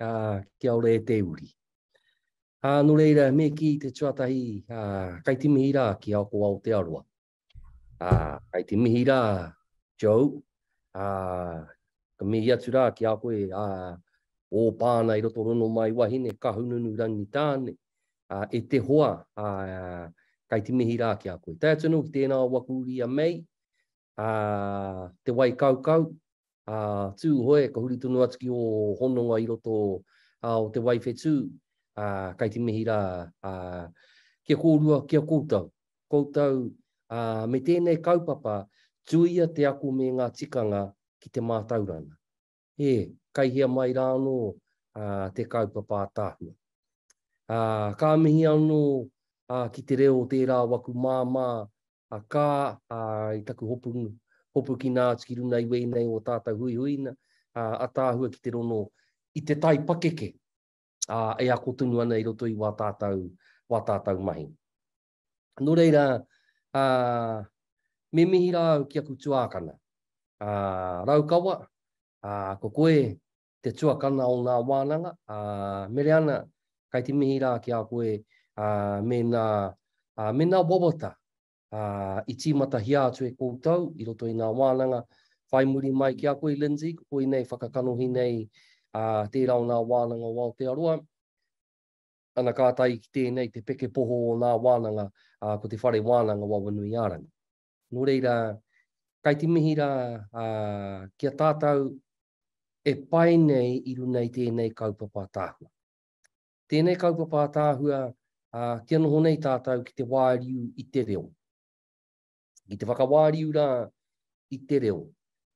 ā, kia ora e te uri. Ā, nō reira, me kī te tuatahi, ā, kai te mihi rā ki Aoko Aotearoa. Ā, kai te mihi rā, Joe, ā, ka mihi atu rā ki a koe, ā, o pāna i roto rono mai wahine, ka hununu rangi tāne, ā, e te hoa, ā, kai te mihi rā ki a koe. Tai atu anō ki tēnā o waku uri a Mei, ā, te wai kaukau, ā, Tūhoe, ka huri tonu atu ki ō hononga i roto ā, o te wai whetū, ā, kei te mihi rā, ā, kia kōrua ki a koutou. Koutou, ā, me tēnei kaupapa, tuia te ako me ngā tikanga ki te mātauranga. E, kai hea mai rā anō ā, te kaupapa ataahua. Ā, ka mihi anō ā, ki te reo o tērā o aku māmā, a kā, ā, i taku hopu, hopukina atu ki runa i wēnei o tātau huihuina, ā, ataahua ki te rono i te tai pakeke, ā, e ako tonu ana i roto i wā tātau, wā tātau mahi. Nō reira, ā, me mihi rā au ki aku tuākana. Ā, Raukawa, ā, ko koe te tuakana o ngā wānanga, ā, Mereana, kai te mihi rā ki a koe, ā, mēnā, ā, mēnā wawata, ā, i tīmatahia atu e koutou i roto i ngā wānanga, whai muri mai ki a koe, Lindsay, ko koinei whakakanohi nei, ā, tērā o ngā wānanga o Aotearoa. Ana ka tae ki tēnei te peke poho o nā wānanga, ā, ko te whare wānanga o Awanuiārangi. Nō reira, kai te mihi rā ā, ki a tātou e pae nei i runai tēnei kaupapa ātaahua. Tēnei kaupapa ātaahua, ā, kia noho nei tātou ki te wāriu i te reo. Ki te whakawāriu rā i te reo.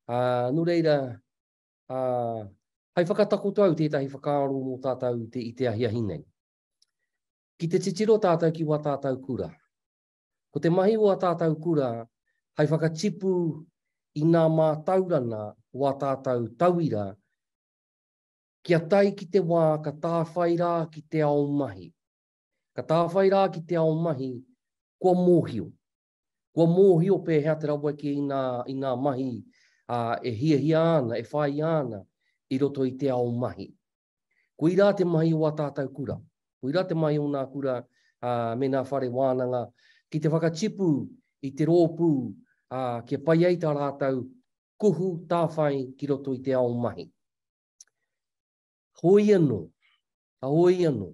Ā, nō reira, ā, hai whakatakoto au tētahi whakaaro mō tātou i te ahiahi nei. Ki te titiro tātou ki wā tātou kura. Ko te mahi o ā tātou kura hai whakatipu i nā mātaurana o ā tātou tauira kia tae ki te wā ka tāwhai rā ki te ao mahi. Ka tāwhai rā ki te ao mahi, kua mōhio, Kua mōhio pēhea te raweke i ngā, i ngā mahi ā, e hiahia ana, e whāia ana i roto i te ao mahi. Koirā te mahi o ā tātou kura. Koirā te mahi o ngā kura ā, me ngā whare wānanga ki te whakatipu i te rōpū ā, kia pai ai tā rātou kuhu tāwhai ki roto i te ao mahi. Hoi anō, ka hoi anō,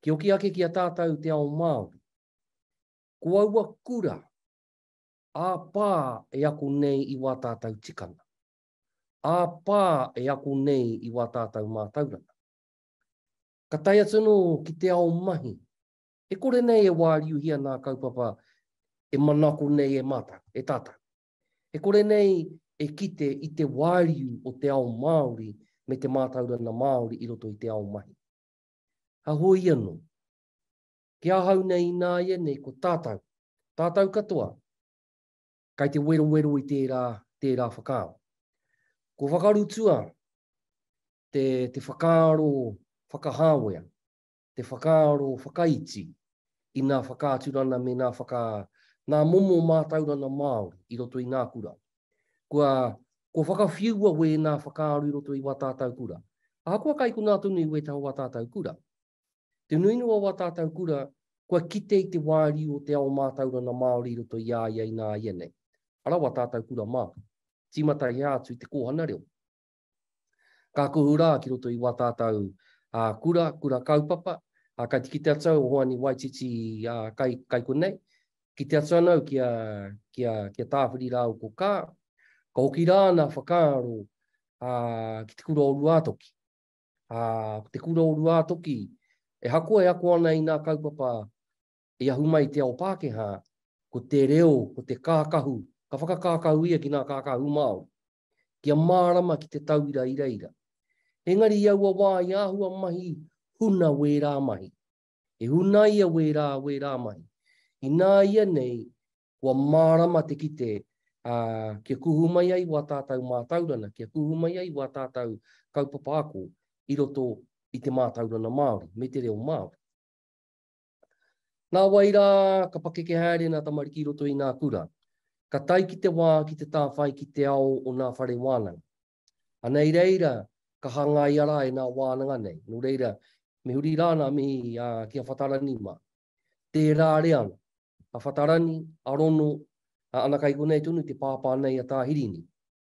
kia hoki ake ki a tātou te ao Māori, Ko aua kura, ā-pā e ako nei i wā tātau tikanga, ā-pā e ako nei i wā tātau mātauranga. Ka tae atu anō ki te ao mahi, e kore nei e wāriuhia nā kaupapa e manako nei e mātau, e tātau. E kore nei e kite i te wāriu o te ao Māori me te mātaurana Māori i roto i te ao mahi. Hahoi anō, Ki ahau nei ināianei ko tātau, tātau katoa, kai te werowero i tērā, tērā whakaaro. Kua whakarutua te, te whakaaro whakahāwea, te whakaaro whakaiti i nā whakaaturana me nā whaka, nā momo mātaurana Māori i roto i ngā kura. Kua, kua whakawhiua wēnā whakaaro i roto i wā tātau kura. Ahakoa kai konā tonu i wētaha o wā tātau kura, Te nuinua o wā tātau kura, kua kite i te wāriu o te ao mātaurana Māori i roto i a ia ināianei. Ara wā tātau kura mā. Tīmata hea atu i te kōhana reo. Ka kuhu rā ki roto i wā tātau kura, kura kaupapa, kai te kite atu au, Hoani Waititi kai konei, kite atu ana au ki a Tāwhiri rāua ko Kaa, ka hoki rā nā whakaaro ki te kura o Ruātoki. ā, ko te kura o Ruātoki, e hakoa e ako ana i ngā kaupapa i ahu mai i te ao Pākehā, ko te reo, ko te kākahu, ka whakakākahu ia ki ngā kākahu Māori, kia mārama ki te tauira i reira. Engari i aua wā i āhua mahi huna wērā mahi. I hunaia wērā, wērā mahi. Ināianei, Kua mārama te kite, ā, kia kuhu mai ai wā tātau mātaurana, kia kuhu mai ai wā tātau kaupapa ako i roto i te mātaurana Māori me te reo Māori. Nā wai rā, ka pakeke haere nā tamariki i roto i nā kura. Ka tae ki te wā ki te tāwhai ki te ao o nā whare wānanga. Anei reira, ka hangaia rā e nā wānanga nei. Nō reira, me huri rā nā mihi ki a Whatarani mā. Tērā reanga, a Whatarani, a Rono, a Anakai konei tonu te pāpā nei a Tāhirini.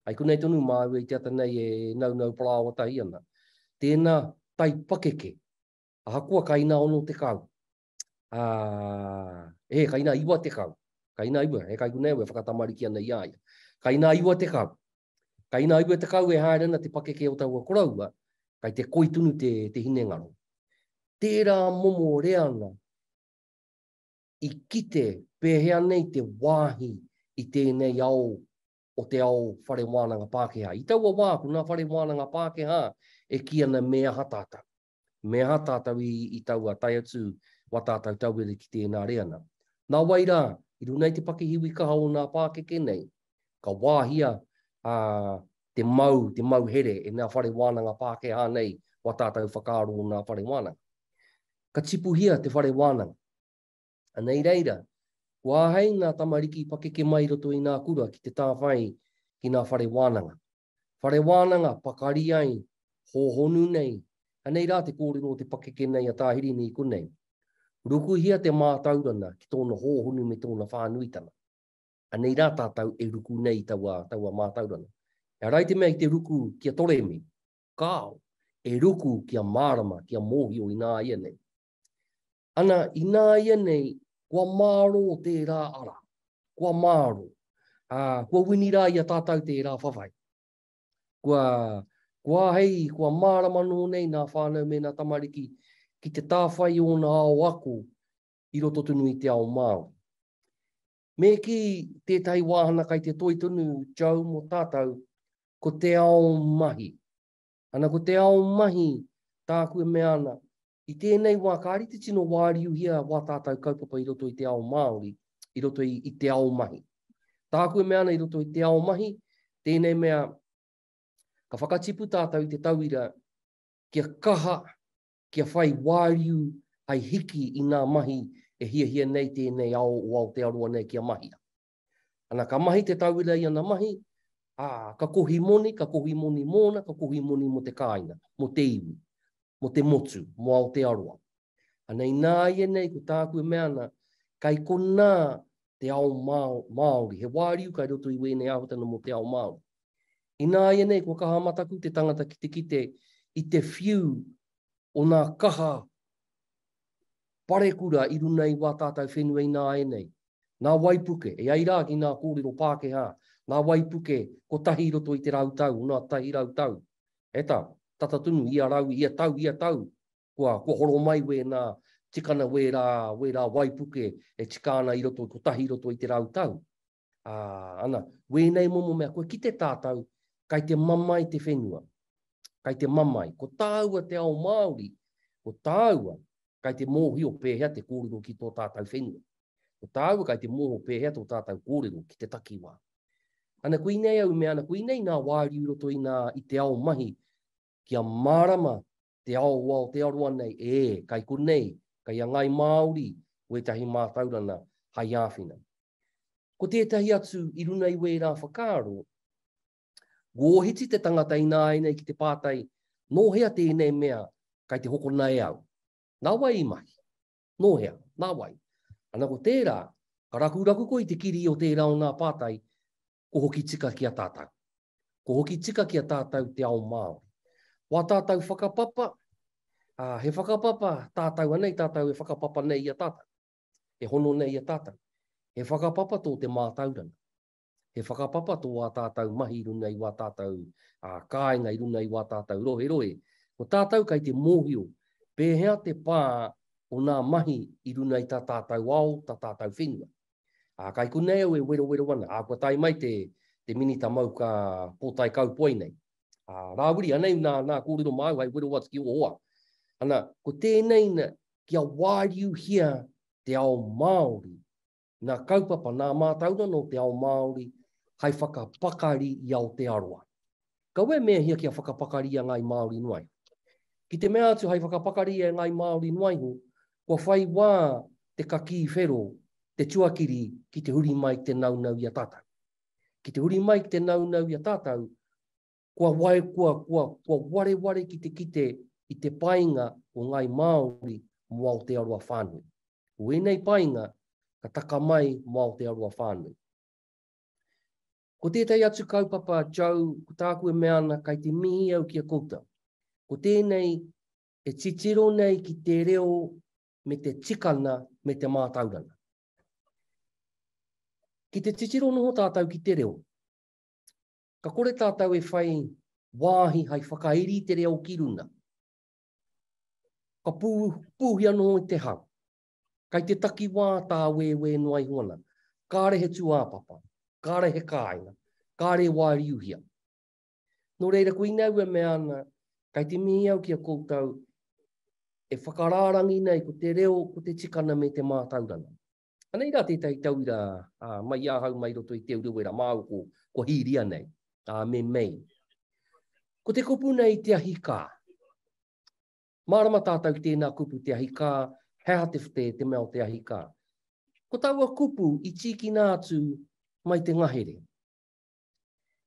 Ai konei tonu māua i te ata nei e naunau parāoa tahi ana. Tēnā tai pakeke, ahakoa ka inā ono tekau, ā, he, ka inā iwa tekau, ka inā iwa, he kai konei au e whakatamariki ana i a ia, ka inā iwa tekau, Ka ina aua tekau e haere ana te pakeke o taua koroua, kai te koi tunu te, te hinengaro. Tērā momo reanga i kite pēhea nei te wāhi i tēnei ao o te ao whare wānanga Pākehā. I taua wā, ko nā whare wānanga Pākehā e kī ana me aha tātou. Me aha tātou i, i taua tae atu wā tātou tauira ki tēnā reana? Nā wai rā, i runga i te pakihiwi kaha o ngā pākeke nei, ka wāhia a, te mau, te mau here e ngā whare wānanga Pākehā nei wā tātou whakaaro o ngā whare wānanga. Ka tipuhia te whare wānanga. Anei reira, kua āhei ngā tamariki pakeke mai roto i ngā kura ki te tāwhai ki ngā whare wānanga. Whare wānanga, pakari ai, hōhonu nei, anei rā te kōrero o te pakeke nei a Tā Hirini i konei. Rukuhia te mātaurana ki tōna hōhonu me tōna whānuitanga. Anei rā tātou e ruku nei i taua, taua mātaurana. He ara i te mea i te ruku kia toremi, kāo, e ruku kia mārama, kia mōhio ināianei. Ana, ināianei, kua mārō tērā ara. Kua mārō. Ā, kua wini rā i a tātou tērā whawhai. Kua, kua āhei, kua mārama nō nei nā whānau me nā tamariki ki te tāwhai i ōna ao ako i roto tonu i te ao Māori. Me kī tētahi wāhana kai te toi tonu, Joe, mō tātou, ko te ao mahi. Ana, ko te ao mahi tāku e mea ana, I tēnei wā ka rite tino wāriuhia wā tātau kaupapa i roto i te ao Māori, i roto i, i te ao mahi. Tāku e mea ana i roto i te ao mahi, tēnei mea ka whakatipu tātau i te tauira kia kaha, kia whai wāriu hai hiki i ngā mahi e hiahia nei tēnei ao o Aotearoa nei kia mahia. Ana ka mahi te tauira i ana mahi, ā, ka kohi moni, ka kohi moni mōna, ka kohi moni mō te kāinga, mō te iwi, mō te motu, mō Aotearoa. Ana ināianei ko tāku e mea ana, kai konā te ao Māori, he wāriu kai roto i wēnei āhuatanga mō te ao Māori. Ināianei kua kaha mataku te tangata ki te kite i te whiu o nā kaha parekura i runei wā tātau whenua ināianei, Nā waipuke, e ai rā ki ngā kōrero Pākehā, ngā waipuke kotahi i roto i te rau tau, ōna tahi rau tau. He tā, tata tonu, ia rau, ia tau, ia tau, kua, kua horo mai wēnā tikana, wērā, wērā waipuke e tika ana i roto, kotahi i roto i te rau tau. Ā, ana, wēnei momo mea, kua kite tātou, kai te mamae te whenua. Kai te mamae. Ko tāua te ao Māori, ko tāua, kai te mōhio pēhea te kōrero ki tō tātou whenua. Ko tāua kai te mōho pēhea tō tātau kōrero ki te takiwā. Ana koinei au mea ana koinei nā wāriu roto inā i te ao mahi kia mārama te ao o Aotearoa nei, ē, kai konei, kai a Ngāi Māori wētahi mātaurana hai āwhina. Ko tētahi atu i runa i wērā whakaaro, Wōhiti te tangata ināianei ki te pātai, nō hea tēnei mea kai te hokona e au? Nā wai i mahi? Nō hea? Nā wai? Ana ko tērā, ka rakuraku koe i te kiri o tērā o ngā pātai, ko hoki tika ki a tātou. Ko hoki tika ki a tātou te ao Māori. Ko a tātou whakapapa, ā, he whakapapa tātou anei tātou e whakapapa nei i a tātou, e hono nei i a tātou. He whakapapa tō te mātauranga. He whakapapa tō ā tātou mahi i runga i wā tātou kāinga, i runga i wā tātou roherohe. Ko tātou kei te mōhio pēhea te pā o nā mahi i runga i tā tātou ao, tā tātou whenua. Ā, kai konei au e werowero ana, ā, kua tae mai te, te Minita Mauka Pōtae Kaupoe nei. Ā, rāwiri, anei nā, nā kōrero māu hai wero atu ki o hoa. Ana, ko tēnei na, kia wāriuhia te ao Māori ngā kaupapa, ngā mātauranga o te ao Māori hai whakapakari i Aotearoa. Kaua e mēhia kia whakapakari i a Ngāi Māori noaiho. Ki te mea atu hai whakapakari e Ngāi Māori noaiho, kua whai wā te kakī whero, te tuakiri ki te huri mai ki te naunau i a tātou. Ki te huri mai ki te naunau i a tātou, Kua wai, kua, kua, kua wareware ki te kite i te painga o Ngāi Māori mō Aotearoa whānui. Ko ēnei painga ka taka mai mō Aotearoa whānui. Ko tētahi atu kaupapa, Joe, ko tāku e mea ana kai te mihi au ki a koutou. Ko tēnei e titiro nei ki te reo me te tikana me te mātaurana. Ki te titiro noho tātou ki te reo, Ka kore tātou e whai wāhi hai whakairi i te reo ki runga. Ka pūhi anō i te hau. Kai te takiwā tā wēwē noa iho ana. Kāre he tūāpapa, kāre he kāinga, kāre e wāriuhia. Nō reira koina au e mea ana, kai te mihi au ki a koutou e whakarārangina i ko te reo, ko te tikana me te mātauranga. Anei rā tētahi tauira mai i ahau mai roto i Te Urewera māu ko, ko Hīria nei, a me Mei. Ko te kupu nei te ahi kā. Mārama tātou ki tēnā kupu te ahi kā, he aha te, te, te mea o te ahi kā. Ko taua kupu i tīkina atu mai te ngahere.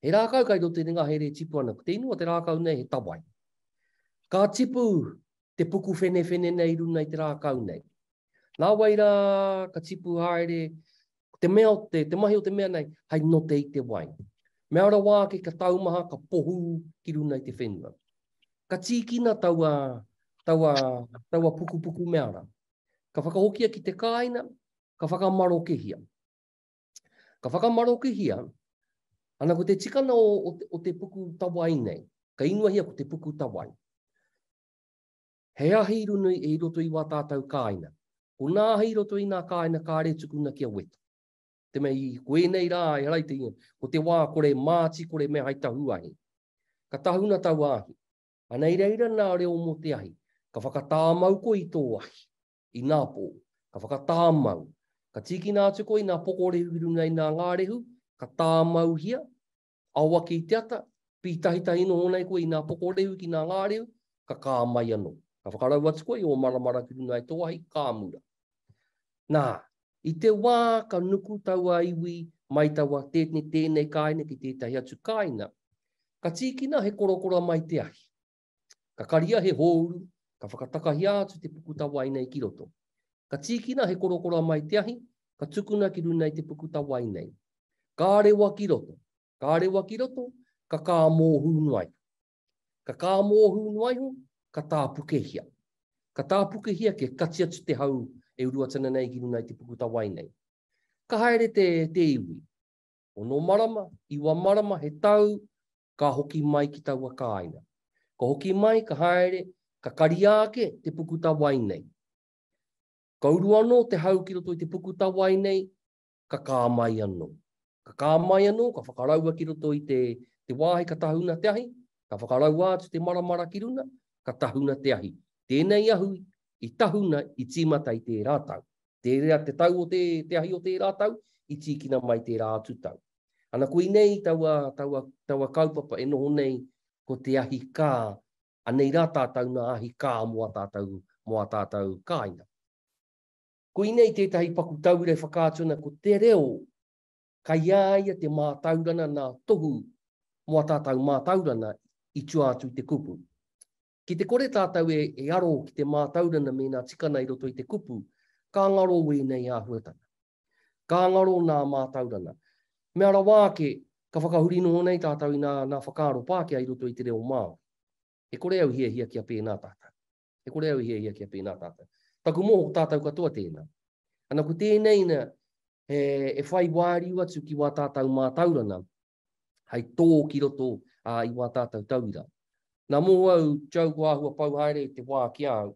He rākau kai tō tēnei ngahere e tipu ana, ko te inu o te rākau nei he tawai. Ka tipu te puku whenewhene nei runa i te rākau nei. Nā wai rā, ka tipu haere, ko te mea o te, te mahi o te mea nei, hai note i te wai. Mea rawa ake ka taumaha, ka pohu ki runa i te whenua. Ka tīkina taua, taua, taua puku puku mea rā. Ka whakahokia ki te kāina, ka whakamarokehia. Ka whakamarokihia, ana ko te tikana o, o, te, o te puku tawai nei, ka ingoahia ko te puku tawai. He ahi runui e i roto i wā tātou kāina. Ko nā ahi roto i nā kāina ka are tukuna kia weto. Te mei, ko ēnei rā, e harai te ingoa, ko te wā kore māti, kore mea hai tahu ahi. Ka tahuna tau ahi. Ana i reira nā reo mō te ahi, ka whakatāmau ko i tō ahi. i nā pō, ka whakatāmau. Ka tīkina atu koe i nā pokorehu i runga i nā ngārehu, ka tāmauhia, ao ake i te ata, pītahitahi noho nei koe i nā pokorehu ki nā ngārehu, ka kā mai anō. Ka whakarau atu koe i ō maramara ki runga i tō ahi, ka mura. Nā, i te wā ka nuku taua iwi mai taua tēnei kāinga ki tētahi atu kāinga, ka tīkina he korokora mai te ahi. Ka karia he hōuru, ka whakatakahia atu te puku tawai nei ki roto. Ka tīkina he korokora mai te ahi, ka tukuna ki runa i te puku tawai nei. Ka rewa ki roto, ka rewa ki roto, ka kā mōhū noa iho. Ka kā mōhū noa iho, ka tāpukehia. Ka tāpukehia kia kati atu te hau e uruatana nei ki runa i te puku tawai nei. Ka haere te, te iwi. Ono marama, iwa marama, he tau, ka hoki mai ki taua kāinga. Ka hoki mai, ka haere, ka karia ake te puku tawai nei. Ka uru anō te hau ki roto i te puku tawai nei, ka kā mai anō. Ka kā mai anō, ka whakaraua ki roto i te wāhi ka tahuna te ahi, ka whakaraua atu te maramara ki runa, ka tahuna te ahi. Tēnei ahu i tahuna i tīmata i tērā tau. Tērā te tau o te ahi o tērā tau, i tīkina mai tērā atu tau. Ana koinei taua, taua, taua kaupapa e noho nei ko te ahi kā, anei rā tātou nā ahi kā mō ā tātou, mō ā tātou kāinga. Koinei tētahi paku tauira e whakaatu ana ko te reo kai ā ia te mātaurana nā tohu mō ā tātou mātaurana i tua atu i te kupu. Ki te kore tātou e, e aro ki te mātaurana mēnā tika ana i roto i te kupu, ka ngaro wēnei āhuatanga. Ka ngaro nā mātauranga. Mea rawa ake, ka whakahuri noho nei tātou i nā, nā whakaaro Pākehā i roto i te reo Māori. E kore au i hiahia kia pēnā tātou. E kore au i hiahia kia pēnā tātou. Taku moho ko tātou katoa tēnā. Ana ko tēnei na, he, e whai wāriu atu ki wā tātou mātauranga, hai tō ki roto ā, i wā tātou tauira. Nā moho au, Joe kua āhua pau haere te wā ki a au,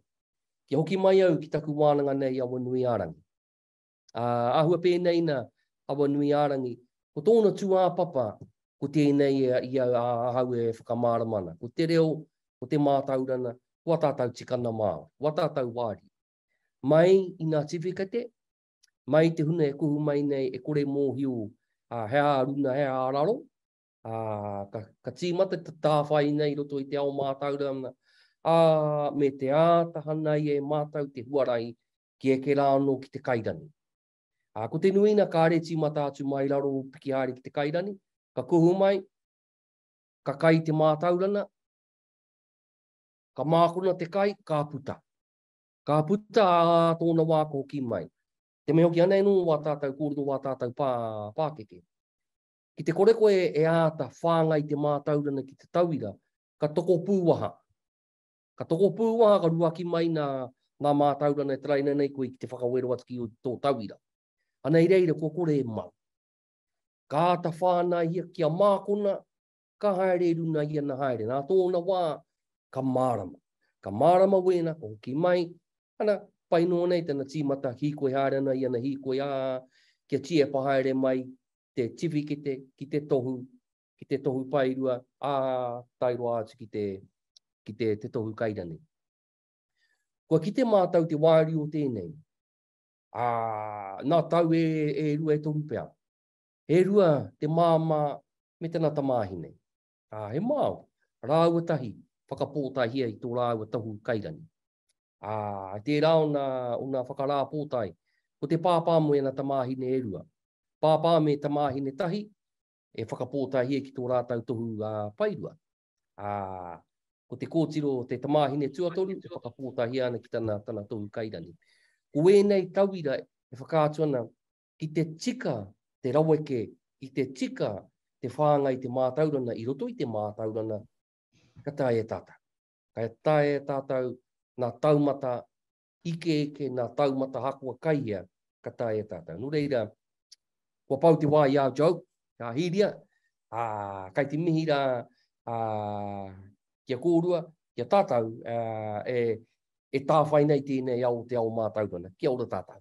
kia hoki mai au ki taku wānanga nei i Awanuiārangi. Ā, āhua pēnei nā Awanuiārangi, ko tōna tūāpapa, ko tēnei i au, ā, ahau e whakamārama ana. Ko te reo, ko te mātaurana, ko ā tātou tikana Māori, ko ā tātou wāri. Mai i ngā tiwhikete, mai i te huna e kuhu mai nei, e kore mōhio he ā-runa, he ā-raro, ā, ka, ka tīmata te tāwhai nei i roto i te ao mātaurana, ā, me te āta hanai e mātou te huarahi ki eke rā anō ki te kairani. Ā, ko te nuina kāre tīmata atu mai raro o piki haere ki te kairani, ka kuhu mai, ka kai te mātaurana, ka mākona te kai, ka puta. Ka puta ā tōna wā ka hoki mai. Te mea hoki anei nō wā tātou kōrero wā tātou pā, pākeke. Ki te kore koe e āta whāngai te mātaurana ki te tauira, ka tokopū waha. Ka tokopū waha, ka ruaki mai nā ngā mātauranga e taraina nei koe ki te whakawero atu ki tō tauira. Anei reira kua kore e mau. Ka āta whānaihia kia mākona, ka haere i runga i ana haere. Nā tōna wā, ka mārama. Ka mārama wēna, ka hoki mai, ana, pai noa nei tana tīmata hīkoi haere ana i ana hīkoi, ā, kia tiepa haere mai te tiwhikete ki te tohu ki te tohu paerua, ā, tae roa atu ki te, ki te, te tohu kairanei. Kua kite mātou te wāri o tēnei, ā, nā tau e, e rua e toru pea. He rua te māmā me tana tamāhine. Ā, he māo, rāua tahi, whakapōtaihia i tō rāua tohu kairanei. Ā, tērā ona, ona whakarāpōtai, ko te pāpā me ana tamāhine e rua. Pāpā me tamāhine tahi, e whakapōtaehia ki tō rātau tohu ā-paerua. Ā, ko te kōtiro o te tamāhine tuatoru e whakapōtaehia ana ki tana, tana tohu kairani. Ko ēnei tauira e whakaatu ana ki te tika te raweke, ki te tika te whāngai te mātaurana i roto i te mātaurana, ka taea e tātau. Ka taea e tātau nā taumata Ike eke nā taumata hakoa kai ia ka tae e tātou. Nō reira, kua pau te wā i a Joe, i a Hiria, ā, kai te mihi rā ā, ki a kōrua, ki a tātou, ā, e, e tāwhai nei tēnei ao o te ao mātauranga. Kia ora tātou.